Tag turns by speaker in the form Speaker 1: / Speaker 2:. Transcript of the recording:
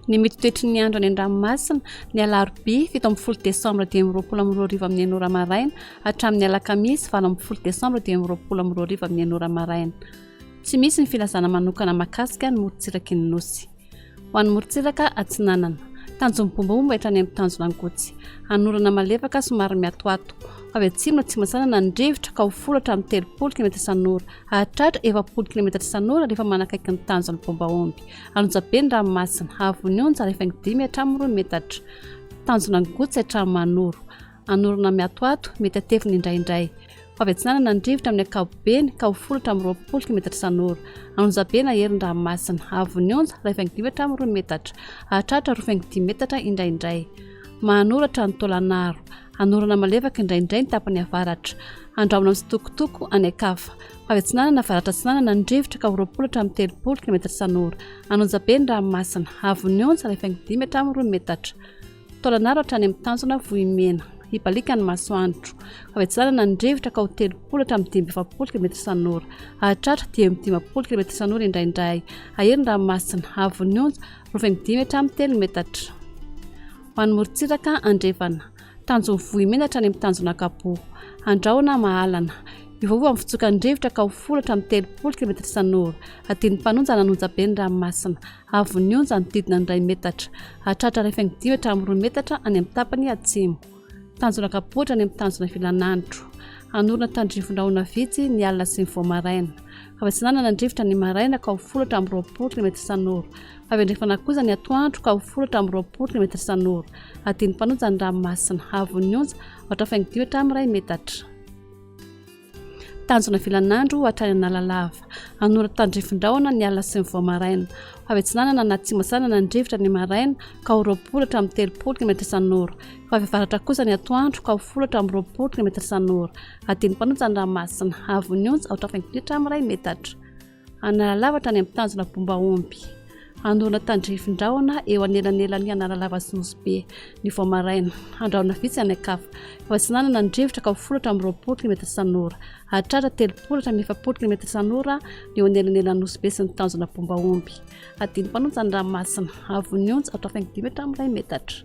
Speaker 1: Ny mety ho toetry ny andro any an-dranomasina, ny alarobia fito ambin'ny folo desambra dimy amby roapolo amby roa arivo amin'ny enina ora maraina hatramin'ny alakamisy valo ambin'ny folo desambra dimy amby roapolo amby roa arivo amin'ny enina ora maraina. Tsy misy ny filazana manokana mahakasika ny morontsiraky ny Nosy. Ho an'ny morontsiraka atsinanana. Tanjon'ny bomba moa mba hitrany amin'ny tanjona ankotsy. Hanorana malefaka somary miatoato. Ho avy atsimo atsimo-atsinanana ny rivotra ka ho folo hatramin'ny telopolo kilometatra isan'ora. Hahatratra efapolo kilometatra isan'ora rehefa manakaiky ny tanjon'ny bomba omby. Alonjabe ny ranomasina. Hahavon'ny onja rehefa dimy hatramin'ny roa metatra. Tanjona ny gotsy hatramin'ny manoro. Hanorina mihatohato, mety hatevina indraindray. Ho avy atsinanana ny rivotra amin'ny ankapobeny ka ho folo hatramin'ny roapolo kilometatra isan'ora. An'onjabe na herin-dranomasina. Havon'ny onja, iray faingo dimy hatramin'ny roa metatra. Hahatratra roa faingo dimy metatra indraindray. Mahanoratra ny taolan'aro. Hanorana malefaka indraindray ny tapany avaratra. Handramana mitsitokotoko any an-kafa. Ho avy atsinanana avaratra-atsinanana ny rivotra ka ho roapolo hatramin'ny telopolo kilometatra isan'ora. An'onjabe ny ranomasina. Havon'ny onja, iray faingo dimy hatramin'ny roa metatra. Taolanaro hatrany amin'ny tanjona Vohimena, hibaliaka ny masoandro. Fahavitsanana ny rivotra ka ho telopolo hatramin'ny dimy amby efapolo kilometatra isan'ora. Hahatratra dimy amby dimampolo kilometatra isan'ora indraindray. Hahery ny ranomasina, havon'ny onja, roa fengo dimy hatramin'ny telo metatra. Ho an'ny morontsiraka andrefana. Tanjon'i Vohimena hatrany amin'ny tanjona Kapo. Andrahona Mahalana. Miovaova amin'ny fitsokan'ny rivotra ka ho folo hatramin'ny telopolo kilometatra isan'ora. Adinon'ny mpanonja na ny onjabe ny ranomasina. Havon'ny onja nodidina ny iray metatra. Hatratra iray faingo dimy hatramin'ny roa metatra any amin'ny tapany atsimo. Tanjona kapohitra any amin'ny tanjona ivelan'andro. Hanorina tandrifon-drahona vitsy ny alina sy ny vao maraina. Fahavitsanana ny rivotra ny maraina ka ho folo hatramin'ny roapolo kilômetatra isan'ora. Fahavendrefana kosa ny atoandro ka ho folo hatramin'ny roapolo kilômetatra isan'ora. Adin'ny mpanonja ny ranomasina. Havon'ny onja, aotra faingo dimy hatramin'ny iray metatra. Tanjona vilan'andro hatrany Analalava. Hanoratra tandrifin-drahona ny alina sy ny vao maraina. Ho avy atsinanana na atsimo atsinanan ny rivotra ny maraina ka ho roapolo hatramin'ny telopolo kilometatra isan'ora. Ho avy avaratra kosa ny atoandro ka ho folo hatramin'ny roapolo kilometatra isan'ora. Adino mpanonja ny ranomasina. Havon'ny onja, aotra faingo-km amin'iray metatra. Analalava tany amin'ny tanjona Bombaomby. Hanorina tandrifin-drahona eo anelanelan'i Analalava sy Nosy Be, ny vao maraina. Handrahona vitsy any an-kafa. Efa tsy nanana ny rivotra ka ho folatra amin'ny roapolo kilometatra isan'ora. Hahatratra telopolo hatramin'ny efapolo kilometatra isan'ora ny eo anelanelan'i Nosy Be sy ny tanjona Bombaomby. Hadino mpanonja ny ranomasina. Avo ny onja, aotra faingo dimy hatramin'ny iray metatra.